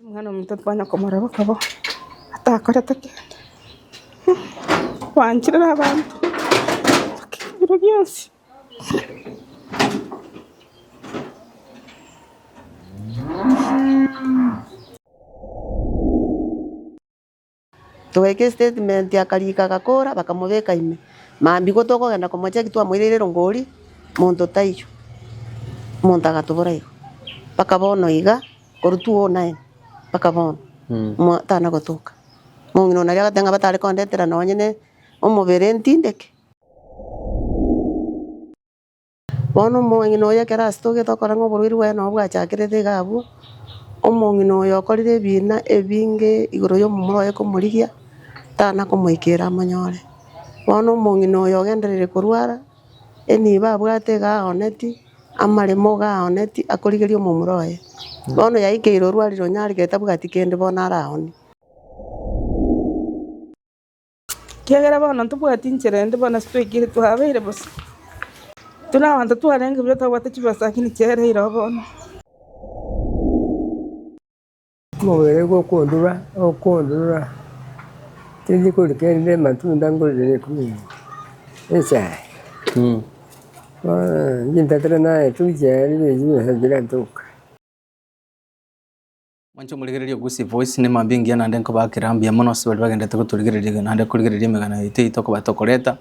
Omwana omonto konya komorora bokabu atakorete kende, oanchorere abanto ebiro bionsi. Togaika estatement akarika agakora bakamobeka ime. Mambia igo tokogenda komocheki twamoireire rongori monto taiyo. Monto agatobora igo. Mpaka bono iga korwa 2009 mpaka bono mo tana gotoka. Mong'ina one aria agateba ng'a batare kondetera nonye ne omobere ntindeke. Bono omong'ina oyo ekero asitogete okora ng'a oborwaire bwaye nabwo bwachakerete iga abwo, omong'ina oyo okorire ebiina ebinge igoro y'omomura oye komorigia, tana komoikeera amonyore. Bono omong'ina oyo ogenderire korwara, enibo abwate iga aoneti, amaremo iga aoneti, akorigeria omomura oye. Bono yaikeire orwarire onyaregete tabwati kende bono ara aoneti. Ekiagera bono ntobwati inchera ende, bono titwaikire twabeire bosa. Tuna abanto twarenge buya twabwate chibesa lakini chiaereire oo bono. Omobere gokondura, okondura, tindi kori kende amatunda ngorire nekumi ime, echae. Bono ngintatera naye toichae, ribere chibesa nchire ntoke. Mwanche morigererie ogusii voice ne mambia engiya naende nkobaa kera mbuya mono ase baria bagenderete gotorigereria naende korigereria emegano yaito eyio tokobaa tokoreta.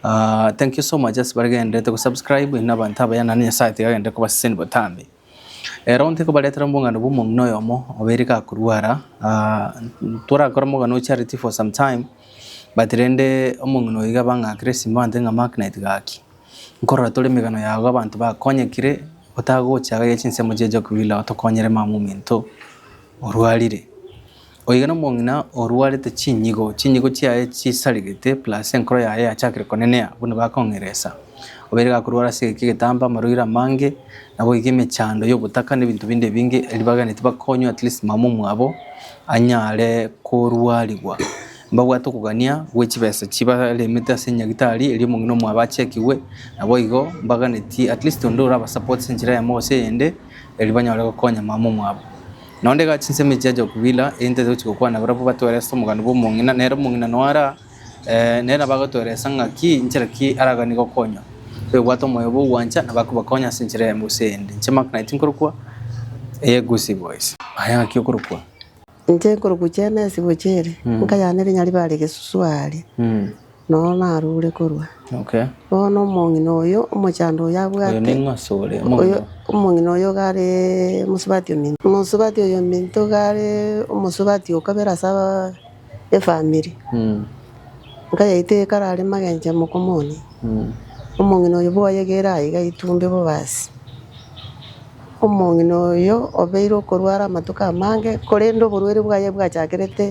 Ah, thank you so much ase baregenderete gosubscribe inwe abanto abaya naende Nyasaye tiga agenderere kobaseseni botambe. Ero nte kobaretera obong'aini bwa omong'ina oyomo obeire gakorwara. Ah, torakore omogano o charity for some time but rende omong'ina oyo iga abang'akire esimo abanto ng'a Mark naitgaki. Nkorora tore emegano yago abanto bakonyekire otagocha agaiga chinsemo chie Jokebila otokonyere mama ominto orwarire. Oiga nomong'ina orwarete chinyigo, chinyigo chiaye chisarigete plus enkoro yaye yachakire konenea buna bakong'eresa. Obeire gakorwara ase egeki egetambe, amarwaire amange, naboigo emechando y'ogotaka na ebinto binde ebinge, erio baganetie bakonywe at least mama omwabo anyare korwarigwa. Mbabwate okogania gwe chibesa chibaremete ase enyagitari eria omong'ina omwabo achekigwe, naboigo mbaganetie at least onde oraba support enchera yamo gose eyende, erio banyore gokonya mama omwabo. Na onde iga chinsemo echia Jokvila, egento ase gochia gokwana barabwo batwereste omogano bwa omong'ina, nere omong'ina noe ara eh, nere nabo agotweresa ng'a ki inchera ki araganie gokonywa. Kwebwata omoyo bwa ogwancha nabo akobakonya ase enchera yamo gose eyende. Inche Mark Knight nkorokwa, eye Gusii Boys. Aya ng'aki okorokwa? Inche nkorokwa chiana ase gocha ere, enka yane ere Nyaribare egesusu aaria, nonya narure korwa. Bono omong'ina oyo omochando oyo abwate, oyo omong'ina oyo iga are omosubati ominto. Omosubati oyo ominto iga are omosubati o kabere ase efamiri. Enka yaito ekarare magencho emokomonia, omong'ina oyo boyegere aye iga aitumbe bobasi. Omong'ina oyio obeire okorwara amatuko amange, korende oborweri bwaye bwachakerete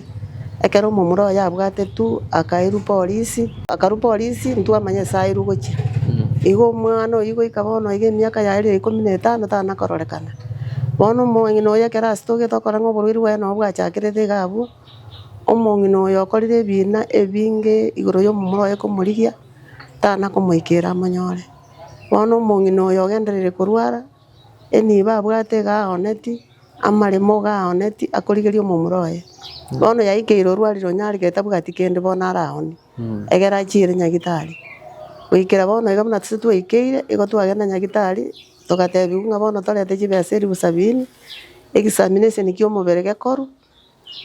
ekero omomura oye abwate tu, akairwa polisi. Akarwa polisi intwe amanya ase airwe gochia. Igo omwana oyio goika bono iga emiaka yaye rire ikomi na etano tana kororekana. Bono omong'ina oyio ekero asitogete okora ng'a oborweri bwaye nabo bwachakerete iga abwo, omong'ina oyo okorire ebiina ebinge igoro y'omomura oye komorigia tana komoikeira amonyore. Bono omong'ina oyo ogenderire korwara, enibo abwate iga aoneti, amaremo iga aoneti, akorigeria omomura oye. Bono yaikeire orwarire onye are getabwati kende bono ara aone, egere achiere nyagitari. Goikera bono iga buna tose twaikeire, igo twagenda nyagitari, togatebiwa ng'a bono torete chibesa elfu sabini, examination kia omobere gekorwa.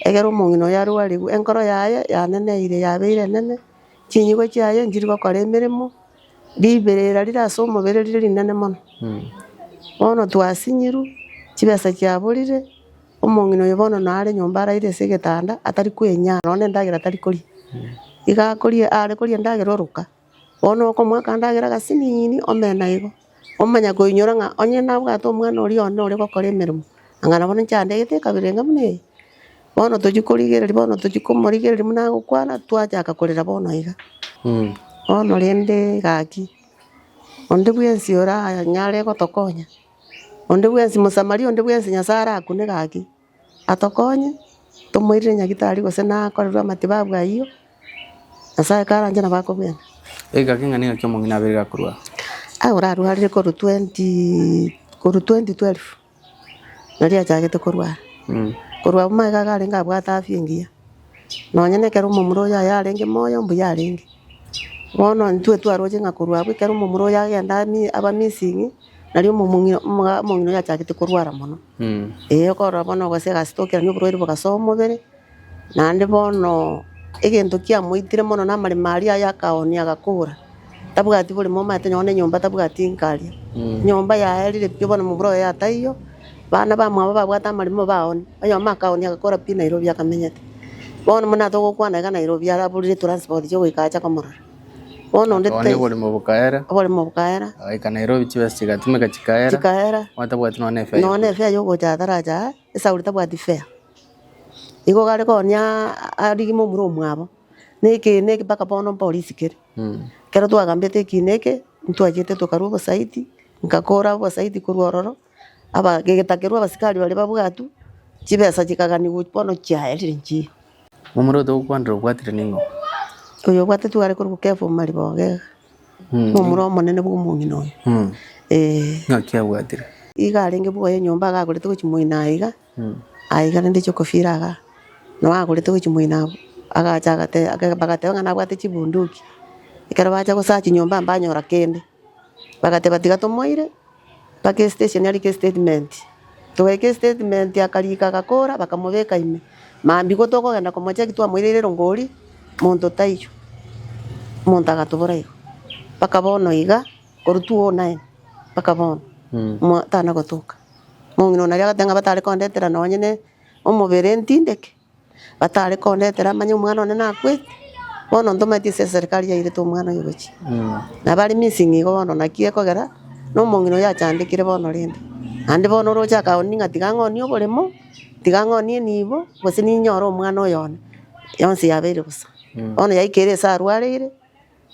Ekero omong'ina oyio arwarigwe, enkoro yaye yaneneire, yabeire enene, chinyigwe chiaye nchiri gokora emeremo, riberera rire ase omobere rire rinene mono. Bono twasinyirwe, chibesa chiaborire, omong'ina oyio bono nare nyomba araire ase egetanda atari kwenyara, nonya endagera tari koria. Iga akoria, are koria endagera oroka. Bono okomoa akandagera agasiniini omena igo, omanya koinyora ng'a onye nabwate omwana oria one ore gokora emeremo, anga nabo ninche andegete ekabere enga buna eye. Bono tochia korigereria bono tochia komorigereria buna agokwana, twachaka korera bono iga. Bono rende gaki, onde bwensi oranyare gotokonya, onde bwensi Mosamaria onde bwensi Nyasae arakune gaki. atokonye, tomoirere nyagitari gose nakorerwe amatibabu ayio, Nyasaye karanche nabo akobwena. Ege gaka ing'ana ingaki omong'ina abeire gakorwa? Aye orarwarire korwa twenty korwa twenty twelve nario achagete korwara, korwa abwo magega iga arenge abwate afya engiya. Nonya nekero omomura oye aye arenge moyo, mbuya arenge. Bono intwe twaroche ng'a korwa abwo ekero omomura oye agenda ami- aba missing, nari omomong'i- omoga- omong'ina oye achagete korwara mono. Eeh okorora bono gose egasi tokerani oborwaire bogasoa omobere, naende bono egento kiamoitire mono namaremo aria aye akaoonia agakora. Tabwati bore momate nonye nenyomba tabwati nkaria. Nyomba yaerire pi bono mobura oye ataiyo, bana bamwabo babwate amarimo baoni. Oyomo akaoni agakora pi Nairobi akamenyete. Bono buna togokwana iga Nairobi araburire transport chia goika acha komorora. Bono onde Akabona tei- oborimo bokaera, oborimo bokaera, agaika Nairobi chibesa chigatumeka chikaera, chikaera, bono tabwati nonye nefea nonye yokoria. efea yogocha atarache aa, esauri tabwati fare. Igo gare kooni aa- arigime omura omwabo. Na ekeene eke mpaka bono mpo risikire. Ekero twagambete ekiina eke, ntwachete tokarwa obosaiti, nkakora obosaiti korwa ororo, aba- gegetakerwa abasikari baria babwatwa, chibesa chikaganigwa bono chiaerire nchiya. Omorwete ote ogokwanire obwatire ning'o? Oyo obwate tware korwa Kefa o Mariboga iga, nomura omonene bw'omong'ina oyo. Ee. Ng'aki abwatire? Iga arenge bwoye nyomba iga agorete gochia moino aye iga, Aiga rende chi'okofiira iga, na bagorete gochia moino abwo, agacha agate- ake- bagateba ng'a nabwate chibunduki. Ekero bacha gosacha chinyomba mbanyora kende, bagateba tiga tomoire mpaka estation arike estatement. Togaika estatement akarika agakora bakamobeka ime. Mambia igo tokogenda komocheki twamoireire rongori, monto taiyo. Monto agatobora igo, mpaka bono iga, korwa 2009 mpaka bono, mo- tana gotoka. Omong'ina onaria agoteba ng'a batare kondetera nonye ne omobere ntindeke, batare kondetera manye omwana one nakwete, bono ntomanyeti ase eserikari yairete omwana oyo gochia. Na bari missing igo bono naki ekogera, na omong'ina oyo achandekire bono rende. Naende bono oroche akagonia ng'a tiga ng'onie oboremo, tiga ng'onie enibo, gose ninyore omwana oyo one, yonsi yabeire bosa. Bono yaikire ase arwareire.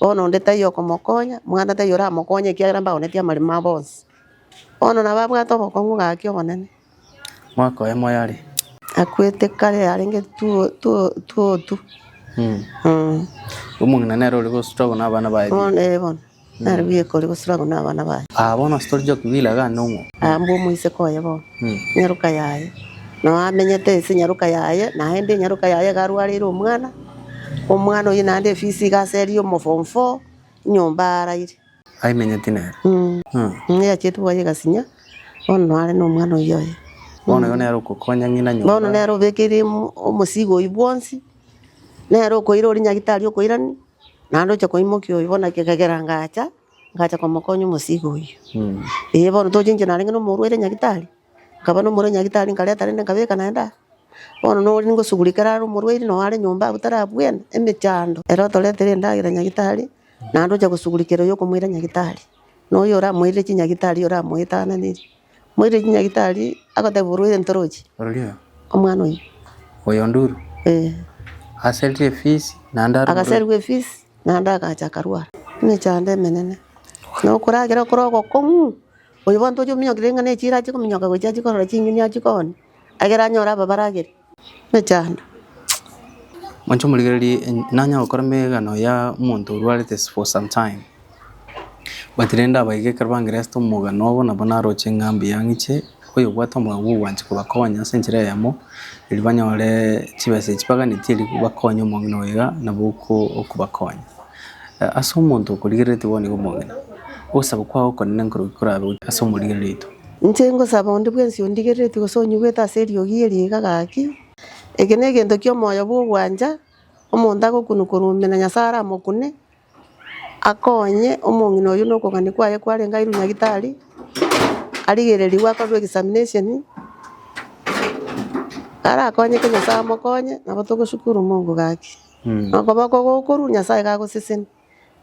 Bono onde taiyo okomokonya, mwana taiyo oramokonye, ekiagera mbaonetie amarimo abo onsi. Bono nabo abwate obokong'u gaki obonene. Mwaka oye moyare. Akwete kare arenge two- two- twotu. Mm. Mm. Omong'ina nere ore gostruggle na abana baye. Bono eh, bono nare bweka ore gostruggle na abana baye. Ah, bono ase tori joki bila iga ande ong'o. Ah, mbwa omoiseke oye bono. Mm. Nyaroka yaye. Nao amenyete ase nyaroka yaye, naende nyaroka yaye iga arwareire omwana. Omwana oyio naende efisi iga ase eria omo form four nyomba araire. Aimenyeti nere. Ng'a eacheti bwaye egasinya. Bono noare na omwana oyio oye. Bono oyo nere okokonya ng'ina nyomba. Bono nere obekeire omosigo oyio bwonsi. Nere okoira oria nyagitari okoirani. Naende oche koimokia oyo. Bono ekegera ngacha, ngacha komokonya omosigo oyio. Ee bono tochenchire narenge na omorwaire nyagitari. Nkaba nomorwaire nyagitari nkareta rende nkabeka naende aa. Bono noria ngosuguri ekero are omorwaire noo are nyomba abwo tari abwene, emechando. Ere otoretere endagera nyagitari, naende ocha gosugurikera oyo okomoira nyagitari, na oyo oramoirire chinyagitari oramoetananeri. Omoirire chinyagitari agoteba orwaire ntoroche, Rorio omwana oyio. oyondurwe Eeh. aserire efisi naende arue orwaire. Agaserigwa efisi naende agacha akarwara emechando emenene. Nokoragera okore ogokong'u. Oyo bono toche ominyokire ng'a nechiira ache kominyoka gochia ache korora chinyeni ache kooni, ekero anyore aba baragere nechando. Mwancha omorigererie en- nanya gokora megano ya omonto orwarete s- for some time. But rende aba iga ekero bangeresete omogano obo nabo naroche ng'a mbuya ng'iche oyo obwate omogao bwo ogwancha kobakonya ase enchera eyemo, eri banyore chibesa echi baganeti eri bakonye omong'ina oyo iga nabo oko- okobakonya. Ase omonto okorigereretie bono nigo omong'ina, ogosaba kwao okonene nkorugi korabe gochia ase omorigerereitwe. Inche ngosaba onde bwensi ondigereretie gose onyigwete ase eriogi eri iga gaki. Eke negento ki'omoyo bw'ogwancha, omonto agokunu korwa omino Nyasae aramokune, akonye omong'ina oyio nokong'ani kwaye kwarenge airwe nyagitari, arigererigwe akorerwe examination, arakonyeke Nyasae amokonye, nabo togoshukuru Mungu gaki. na okoboko okwo okorua Nyasae gagoseseni.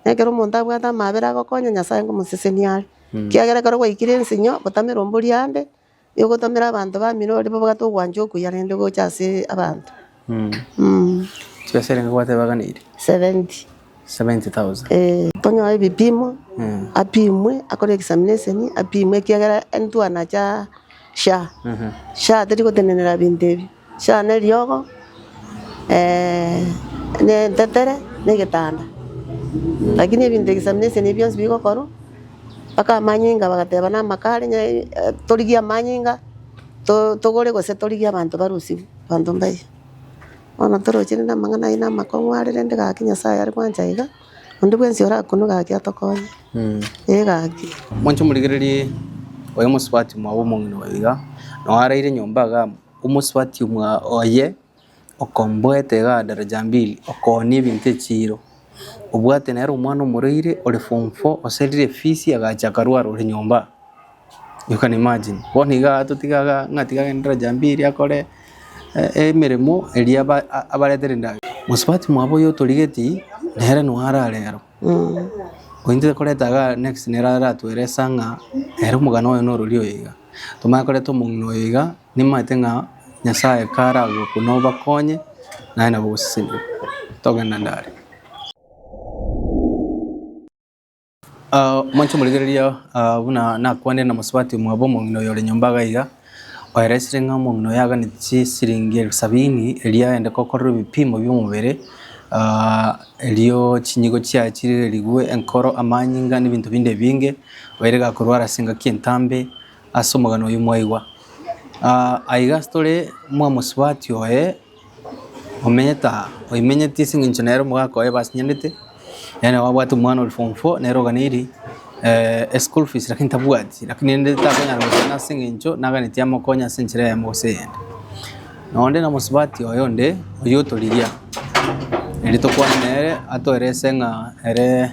Na ekero omonto abwate amaabera agokonya Nyasae ngomoseseni are. Ekiagera ekero gwaikire ensinyo gotame rombori ande, nigo ogotomera abanto ba Milori babwate ogwancha okuya rende gocha ase abanto. Chibesa eria nigo gwateba gana eria? Seventy. Seventy thousand. Eeh. Tonyoe ebipimo, apimwe, akore examination, apimwe ekiagera intwe anache aa SHA. SHA teri gotenenera binto ebio. Share neriogo, eeh, ne entetere, ne egetanda. Lakini ebinto examination ebi bionsi bigokorwa, mpaka amanyinga bagateba namaka are nya eh, torigie amanyinga to togore gose torigie abanto barosiwe, abanto mbaye. Bono toroche rende amang'ana ayio namakong'u are rende gaki Nyasaye are gwancha iga, onde bwensi orakunwe gaki atokonye, eh gaki. Mwanche morigererie oyo mosubati mwabo omong'ina oyo iga, noo araire nyomba igaa. Omosubati oye okomboeta egaa daraja mbili, okoonia ebinto echiiro. Obwate nere omwana omorwaire ore form four oserire efisi agacha akarwara ore nyomba. You can imagine. Bono iga totige iga ng'a tiga agende daraja mbili akore emeremo eria abaretere endagera. Mosubati mwabo oyo otorigeti nere noo arare aro. Oyio ntokoreta igaa next nere aratwere esaa ng'a nere omogano oye norori oyo iga. Tomanye koreta omong'ina oyo iga, nimanyete ng'a Nyasae karagoka nobakonye, naye nabo ogosesenigwa. Togenda ndare. Ah, moanche omorigereria, ah, buna nakwanire na mosubati omwabo omong'ina oyo ore nyomba iga iga, oeresire ng'a omong'ina oyo aganeti chisiringi elfu sabini eria aende gokorerwa ebipimo bi'omobere, ah, erio chinyigo chiaye chirigerigwe, enkoro, amanyinga, na ebinto binde ebinge. Baire gakorwara ase engaki entambe ase omogano oyio mwaigwa. Ah, aiga tore mwamosubati oye omenyete aa, oimenyeti ase eng'encho nere omogaka oye basinyarete, yaani nabo abwate omwana ore form four nere oganeri eh, eschool fees lakini tabwati, lakini rende takonyara gokina ase eng'encho naganeti amokonye ase enchera eyemo gose eyende. Na onde na omosubati oye onde oyio otorigia, eri tokwane nere atoerese ng'a ere.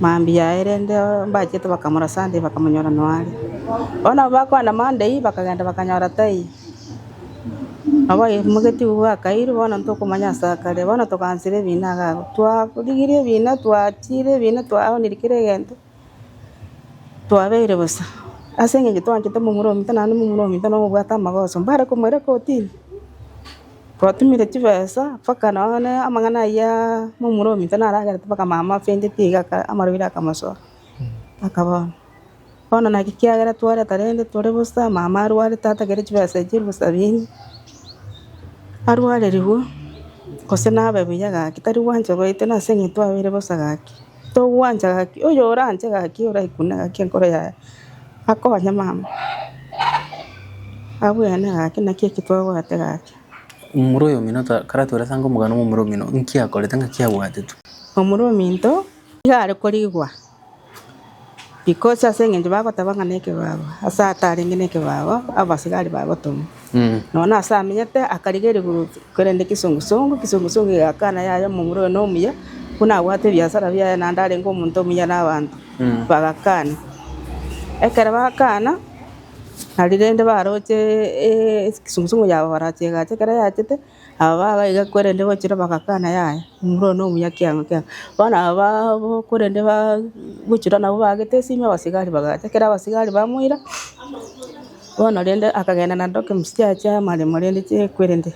mambia aye rende mbachete bakamora Sunday bakamonyora nonya are. Bono nabo bakogenda Monday bakagenda bakanyora taiyo. Nabo aimogetie iga bwakairwe bono ntokomanya ase akare. Bono togaanchera ebina iga abwo. Twarigirie ebina twachiire ebina twaoneiri kera egento. Twabeire bosa, ase engencho twanchete momura ominto, naende momura ominto nigo obwate amagoso, mbare komoira kortini. Twatumire chibesa mpaka nonye amang'ana ayio aa momura ominto naragerete mpaka mama afendeti iga aka amarwaire akamosoa, mpaka bono. Bono naki ekiagera twareta rende tore bosa, mama arware tata kere chibesa echio bosabini, arwarerigwe gose nabe buya gaki, tari gwancha goetena ase eng'encho twabeire bosa gaki. Togwancha gaki, oyoranche gaki oraikune gaki enkoro yaye akonye mama. Abwene gaki naki eki twabwate gaki. Omomura oyomino taratwera ase ange omogano bw'omomura omino, inki akorete ngaki abwatetwe? Omomura ominto nigo are korigwa. Ikochi ase engencho bagoteba ng'a nekebaabo, ase atarenge nekebaabo abasigari bagotoma, nonya ase amenyete akarigia erigurutsi, korende kisongu songu, kisongu songu egakana yaya omomura oye nomuya, buna abwate ebiasara biaye naende arenge omonto omuya na abanto, bagakana. Ekero bakana, nari rende baroche kisongu songu yabo barache egacha, ekero yachete. Aba bagaiga korende gochira bagakana yaya, imura one omuya kiang'o kiang'o. Bono aba babo korende baa gochira nabo baagete esimi abasigari bagacha, ekero abasigari bamoira, bono rende akagenda na doki msicha ache amaremo rende chikwerende.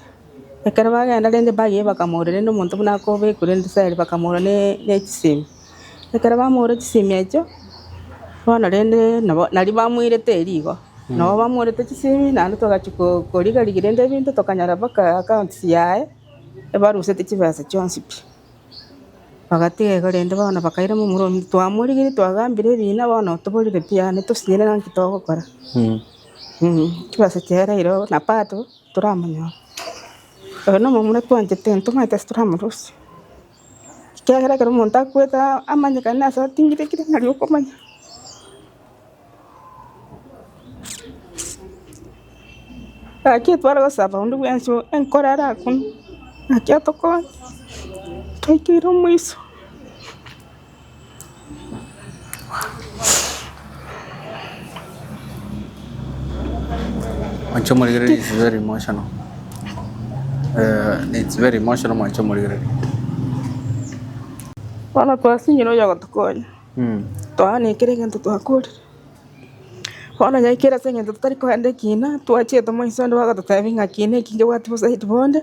Ekero bagenda rende bagiya bakamoira rende omonto buna akobekwa rende sari bakamora ne ne chisemi. Ekero bamoore chisemi echio, bono rende nabo nario bamoirete rigo, nabo bamoorete chisemi naende togachia ko- koriga rigia rende ebinto tokanyora mpaka accounts yaye ebarusete chibesa chionsi pi. Bagatiga igo rende bono bakairema omorwoti ominto, twamorigirie twagambire ebina bono otoborire pi yaani tosinyire naki togokora. chibesa chiaye rero na bado toramonyora. Oyo nomomura twanchete ntwe omanyete ase toramorusia. Ekiagera ekero omonto akwete amanyekane ase ating'ire ekere ng'ari okomanya. Gaki tware gosaba onde bwensi enkoro are akunwe, naki atokonye, twaikire omoiso. Mwancha omorigereria is very emotional. Eh, it's very emotional mwancha omorigereria. Bono twasinyire oyo ogotokonya Mm. twaana ekero egento twakorire bono nyaikere ase eng'encho totari kogenda ekina twachie tomoise onde bagototebi ng'a kiina eki ngebwati bosaiti bonde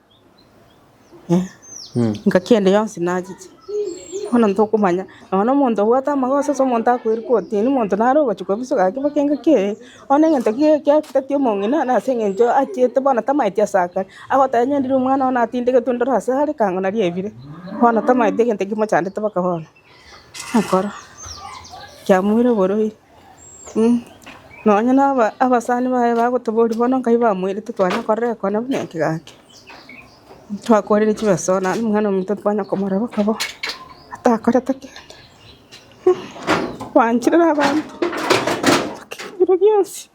Engaki ende yonsi nachiche, bono ntokomanya nonya na omonto obwate amagoso ase omonto akoirwe korotini, omonto nare ogochia kobisa gaki mpaka engaki eye, bono na egento ki kiateti omong'ina na ase eng'encho achiete bono tamaeti ase akare, agoteba onye ndiri omwana one atindegetwe ndore ase are ekango naria ebire, bono tamaeti egento ekio kimochandete mpaka bono, nakoro kiamoire oborwaire. Nonya nabasani baye bagotoboria bono nkabe bamoirete twanya korora ekona buna eke gaki. Twakorire chibeso bono naende omwana ominto twanya komorora boka boka atakorete kende. Kwanchire na abanto, ebinto bionsi.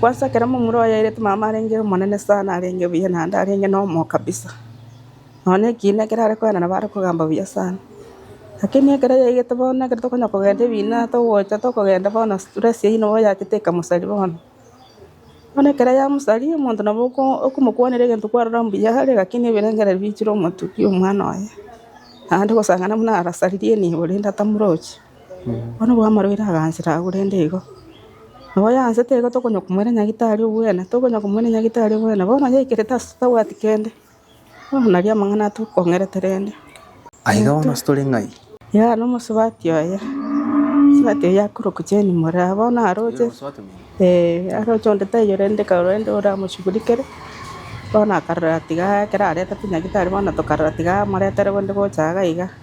Kwansa ekero momura oye airete mama arenge omonene sana arenge buya naende arenge na omoo kabisa. Nonya ekiina ekero are koenda nabo are kogamba buya sana. Lakini ekero yaigete bono ekero tokonya kogenda ebiina togocha tokogenda bono stress eyio nabo yachete ekamosaria bono. Bono ekero yamosaria omonto nabo okomokwanera egento kwarora mbuya are lakini ebirengereri bichire omotukia omwana oye. Naende gosang'ana buna arasaririe nibo rende atamurochi. Bono bwamaroire agansera agwo rende igo. Nabo oyansete igo tokonya komoira nyagetari obwene, tokonya komoira nyagetari obwene. Bono oyaikerete ase tabwati kende, bono naria amang'ana atokong'erete rende. Aiga bono ase tore ng'ai? Igaa nomosubati oye, mosubati oye akorokwa Jane Moraa. Bono aroche, eeh, aroche onde taiyo rende karora rende oramoshughulikere. Bono akarora atiga ekero aretete nyagetari bono tokarora tiga amoretere bonde gocha iga.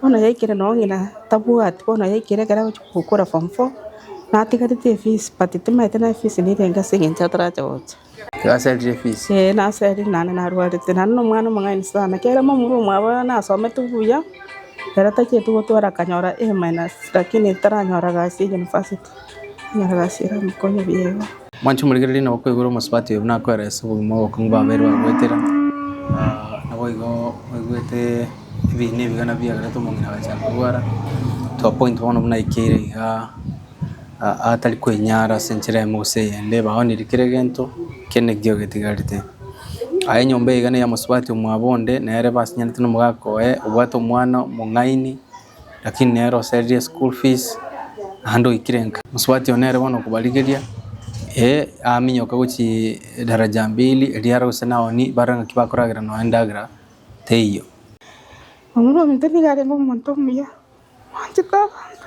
Bono yaikire noo ng'ina tabwati bono yaikire ekero agochia gokora form four natigareti efees but timaete naye efees nerenge ase eng'encho atarache gocha. Igo aserire efees. Ee naserire naende narwarete naende na omwana omong'aini sana kere momura omwabo nasomete buya ere tacheti gotwara akanyora A- minus lakini taranyora gasi ya university. Mwanche morigererie na okoigwa ore omosubati oyo buna akoeresa obogima bwa obokong'u bwa abairi baye goetera. Naboigo oigwete ebiina ebiga nabio biagerete omong'ina agachia korwara to a point bono buna aikeire iga atari kwenyara ase enchera eyemo gose eyende, baonire kera egento kende ekio getigarete. Aye enyomba eye iga neya mosubati omwabo onde, nere basinyanete na omogaka oye, obwate omwana omong'aini. Lakini nere osereria eschool fees naende oikire nka. Mosubati one ere bono okobarigeria, ee aminyoka gochia daraja mbili eria are gose nao ni bare ng'aki bakoragera nao endagera teiyo. Omorwoti nigo arenge omonto omuya, omonchete abanto.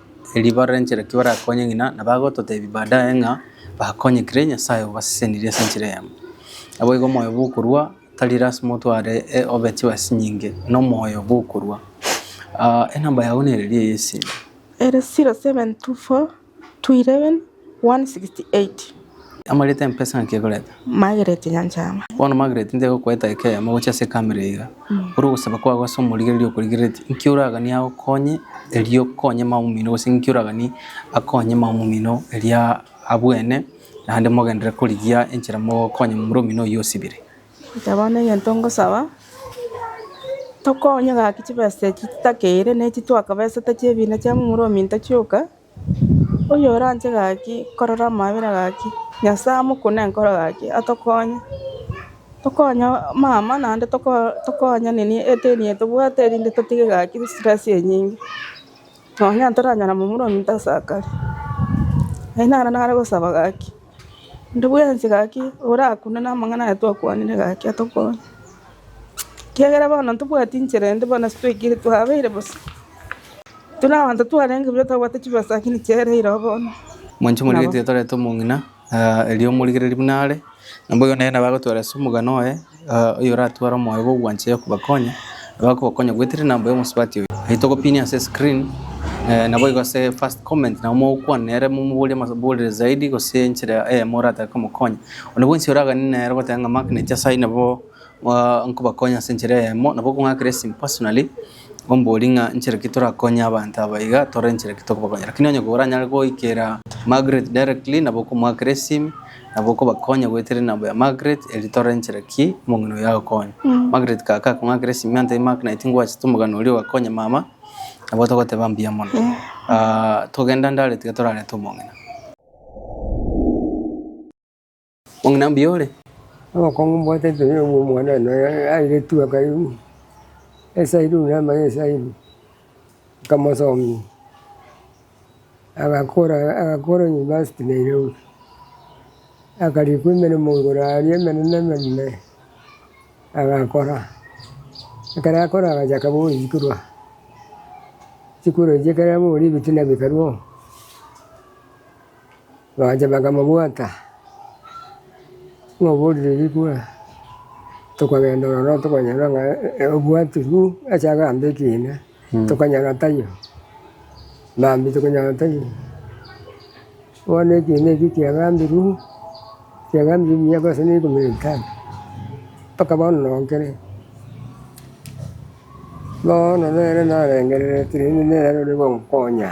Erio barore enchera ki barakonye ng'ina, na bagototebi baadaye ng'a bakonyekire, Nyasae obasesenirie ase enchera eyemo. Naboigo omoyo bw'okorua tari lasima otware obe chiwasi chinyinge, na omoyo bw'okorua. Enamba yago nere ria ase esegi. 168. Amarete empesa nki ekoreta? Margaret Nyanchama. Bono Margaret ntegokoeta ekeeyamo gochia ase ekamera iga. Ore ogosaba kwago ase omorigereria okorigereretie, nki oraganie agokonye erio okonye mama omino gose nki oraganie akonye mama omino erio abwene naende mogenderere korigia enchera mogokonya momura omino oyio osibire? Inche bono egento ngosaba, tokonywe gaki chibesa echi chitakeire na echi twakabesete chi'ebina chia momura ominto chioka, Oyoranche gaki korora amabera gaki, Nyasae amokune enkoro gaki atokonye. Tokonye mama naende tokonye nini eteni eye tobwate erinde totige gaki stress enyinge. Nonya ntoranyare momura ominto ase akare. Naende naro nare gosaba gaki. Inde bwensi gaki orakunde namang'ana aya twakwanire gaki atokonye, ekiagera bono ntobwati inchera ende bono ase twaikire twabeire bosa. Tuna abanto twarenge buya twabwate chibesa lakini chiaye ire oo bono. Mwanche morigetie torete omong'ina, erio morigererie buna are, na boigo nere nabo agotweresa omogano oye. oyoratware omoyo bw'ogwancha oyokobakonya, nabo akobakonya gwetereri na mbuya omosubati oye. Eri togopinia ase screen naboigo ase first comment nabo mogokwana nere momoborie amaborere zaidi gose enchera eyemo oratake komokonya. Onde bwensi oraganie nere ogoteba ng'a mark nyasae nabo nkobakonya ase enchera eyemo nabo okong'akera esimi personally omoborie ng'a inchera ki torakonye abanto aba iga tore inchera ki tokobakonya. Lakini onye koranyare goikera Margaret directly nabo okomoakera esimi. Nabo okobakonya gwetereri na boya Margaret erio torenchera ki omong'ina oyo agokonya. Margaret kaka akong'akera Simeon tari Mark naye tingwachete omogano oria ogakonya mama nabo togoteba mbuya mono. Togenda ndare tiga torarete omong'ina. Mong'ina mbuya ore? Obokong'u mbwate tiri obwo omwana one aire tu akarigwa esayiri buna amanye esayiri. nkamosomia, agakora agakora university Nairobi. Akarikwa emeremo igoro aria emenene emenene, agakora, ekero akora agachaka gosikwa, sikuru eria ekero yabori ebitina bikarwa oo. Bagacha bakamobwata, Moborire rikwe, tokagenda ororo tokonyora ng'a obwatirwe ase agambe ekiina, tokanyora taiyo. Mambia tokonyora taiyo. Bono ekiina ekio kiagambirwe, kiagambirwe emiaka gose ne ikomi na etano, mpaka bono noo nkere. Bono nere narengereretie rende nere ore konkonya.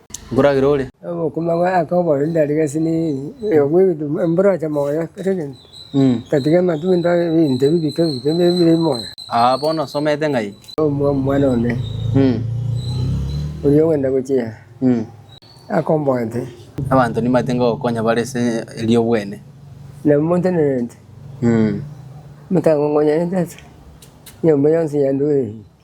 nkoragera ore. Omokoma bwa Yakobo ore ndari gesini eye obwegutu mboroche moyo kera egento, tatiga amatunda a ebinto ebi bike bike ebire moyo. Aa bono osomete ng'ai? Omwa omwana one oria ogenda gochia akomboete. Abanto nimbate ngogokonya bare ase eri'obwene. Na montenerete, motang'ong'onyanete ase enyomba yonsi ya Ndwiri.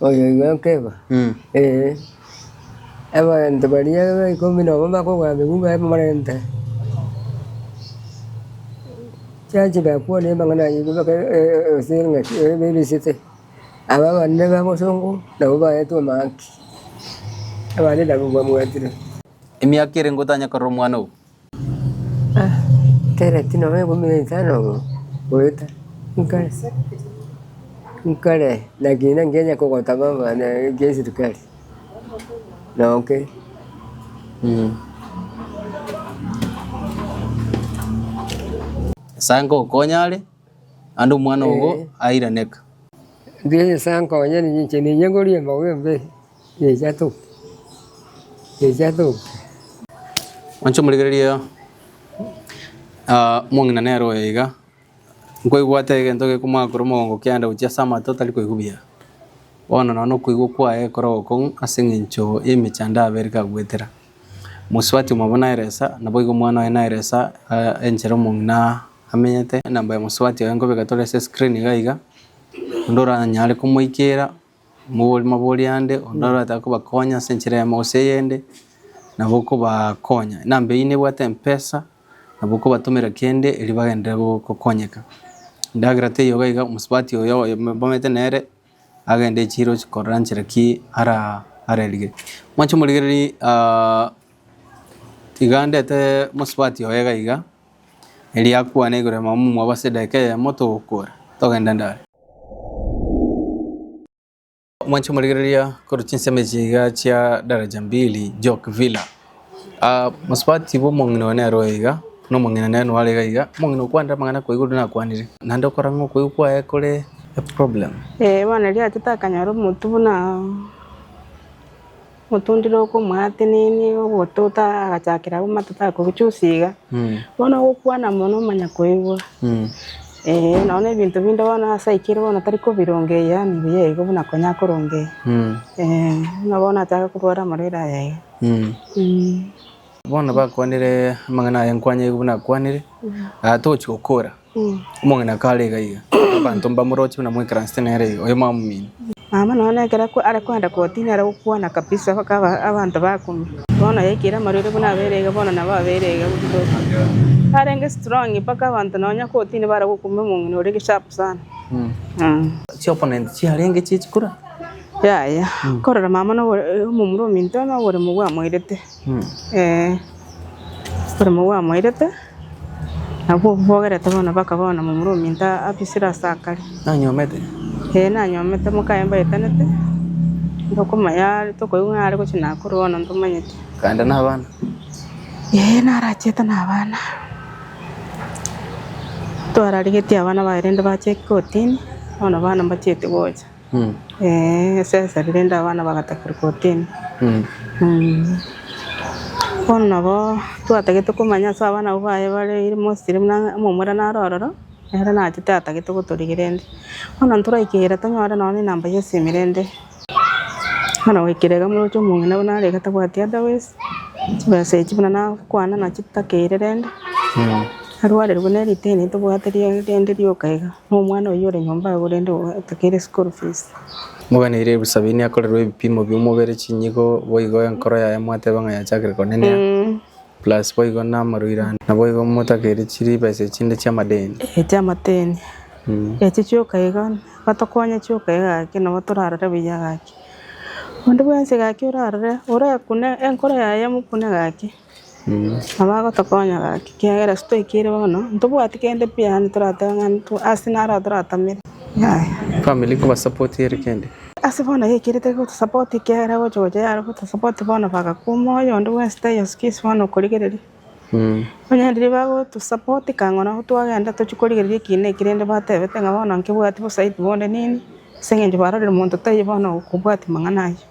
Oyoyio akeba, Ee, abanto baria ikomi na babere bakogora amegu baye bamorente, chiacha bakwana amang'ana ayio mpaka ense engaki ebarisete, aba abande nigo abasongo nabo baete omahaki, abande nabo mbabwatire. Emiaka ere ngotanye korora omwana obo. Tereti nonya ekume na isano igo goeta nkare nkare lakini nkenya kogotama mwane ekia esirikari noke eh. Nyasae nkogokonya are naende omwana ogo airaneka. Nyasae nkonye ninche ninya ngoria embago y'embere. Inche omorigereria omong'ina nere oyo iga, nkoigwete egento gekomoaka korwa omogongo okianda gochia ase amato otari koigwa buya. Bono nonya na okoigwa kwaye ekero gokong'u ase eng'encho y'emechando abe ere kagoetera. Mosubati omobua nere esa, naboigo omwana oye nere esa enchera omong'ina amenyete. Enamba ya mosubati oye nkobeka tore ase escreen iga iga, onde oranyare komoikera. Omogori mabori ande, onde orataa kobakonya ase enchera eyemo gose eyende, nabo okobakonya. Enamba eyio nebwate empesa, nabo okobatomera kende erio bagenderere go- gokonyeka. Endagera teiyo iga iga, omosubati oyo oyo mobamate nere, agende chiro chia korora nchera ki ara arerige. Mwanche omorigererie tiga ndete omosubati oye iga iga, erio akwane igoro ya mama omwabo ase edageka eyemo togokora, togenda ndare. Mwanche morigereria korwa chinsemo echi iga chia Daraja Mbili, Jock Villa. Ah, mosubati bwa omong'ina one nere oyo iga, na omong'ina nere nore iga iga, omong'ina okwanire amang'ana koigwa riria nakwanire. Naende okora ng'a okoigwa kwaye kore a problem. Eh, bono riachete akanyora omotu buna. Motundire okomwatenenia obototo agachakera agwo amatuko aye kogochusa iga, bono ogokwana mono omanyakoigwa. Ee, nonya ebinto binde bono ase aikire bono tari kobirongeria yaani mbuya igo buna konya akorongeria. Ee, buna bono achake korwara amarwaire aya iga. Bono bakwanire amang'ana aya nkwanyeire buna akwanire, togochi gokora. Omong'ina kare iga iga, abanto mbamoroche buna mw'ekeranse nere iga, oyo mwamomina. Mama nonya ekero are kwenda koti nere gokwana kabisa mpaka abanto bakumia. Bono yaikire amarwaire buna abere iga bono nabo abere iga gochia koti. Arenge strong mpaka abanto nonya koti nibare gokumia omong'ina oria sharp sana. Chi opponent chiarenge chichikura? Yaya, korora mama omomura ominto noboremo bwamoirete. Salomo bwamoirete, nabwo obwo bogerete bono bakaba bono momura ominto abisire ase akare. Nanyomete. Ee, nanyomete, mokaye mbaetanete, tokomanya are, tokoigwa ng'a are gochia naa korwa bono ntomanyeti. Kaende nabana? Ee, narachiete nabana. Twararigetie abana baye rende bache kotini, bono abana mbachieti gocha. Esesa riria rinde abana bagatakerwa kortini. Bono nabo twatagete komanya ase abana abwo baye bare mostly buna omomura nare ororo nere naye tatagete gotorigia rende. Bono ntoraike ere tonyore nonya enamba ya esimi rende bono goikera iga moroche omong'ina buna are iga tabwati otherwise chibesa echi buna nakwana nachitakeire rende arwarire buna eriteni tobwate rende rioka iga. Nomwana oyio ore nyomba agwo rende otakeire school fees. Moganeire ebusa beini akorerwe ebipimo bi'omobere chinyigo boigo enkoro yaye mwateba ng'a yachakire konenea plus boigo namaruire ande naboigo motakeire chiribesa echinde chi'amadeni. Echi amateni. Echi chioka iga batokonya chioka iga gaki nabo torarore buya gaki. Onde bwensi gaki orarore orekune enkoro yaye emokune gaki. Nabo agotokonya gaki, ekiagera ase toikire bono, ntobwati kende pi yaani toratebe ng'a intwe ase naro atoratamere. Family nkobasupport ere kende. Ase bono yaikire tari gotosupport ekiagera gocha gocha yare gotosupport bono bagakwa omoyo onde bwensi taiyo excuse bono okorigereria. Onye riria bagotosupport kang'ora abwo twagenda tochia korigereria eki na eki rende batebete ng'a bono nkebwati bosaiti bonde nini ase eng'encho barorire monto taiyo bono okobwati mang'ana ayio.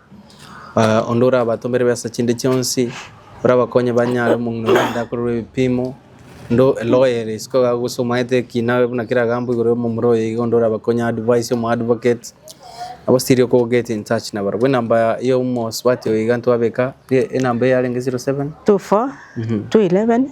Onde orabatomere besa chinde chionsi, orabakonye banyare omong'ina oria aende akorerwe ebipimo, onde eloyere isiko iga gose omanyete ekina buna kera egambo igoro y'omomura oye iga onde orabakonye advise omo advocate, nabo still oko get in touch nabarabwo. Enamba ya omosubati oyo iga ntwabeka, enamba eyarenge zero seven, Two four, two eleven.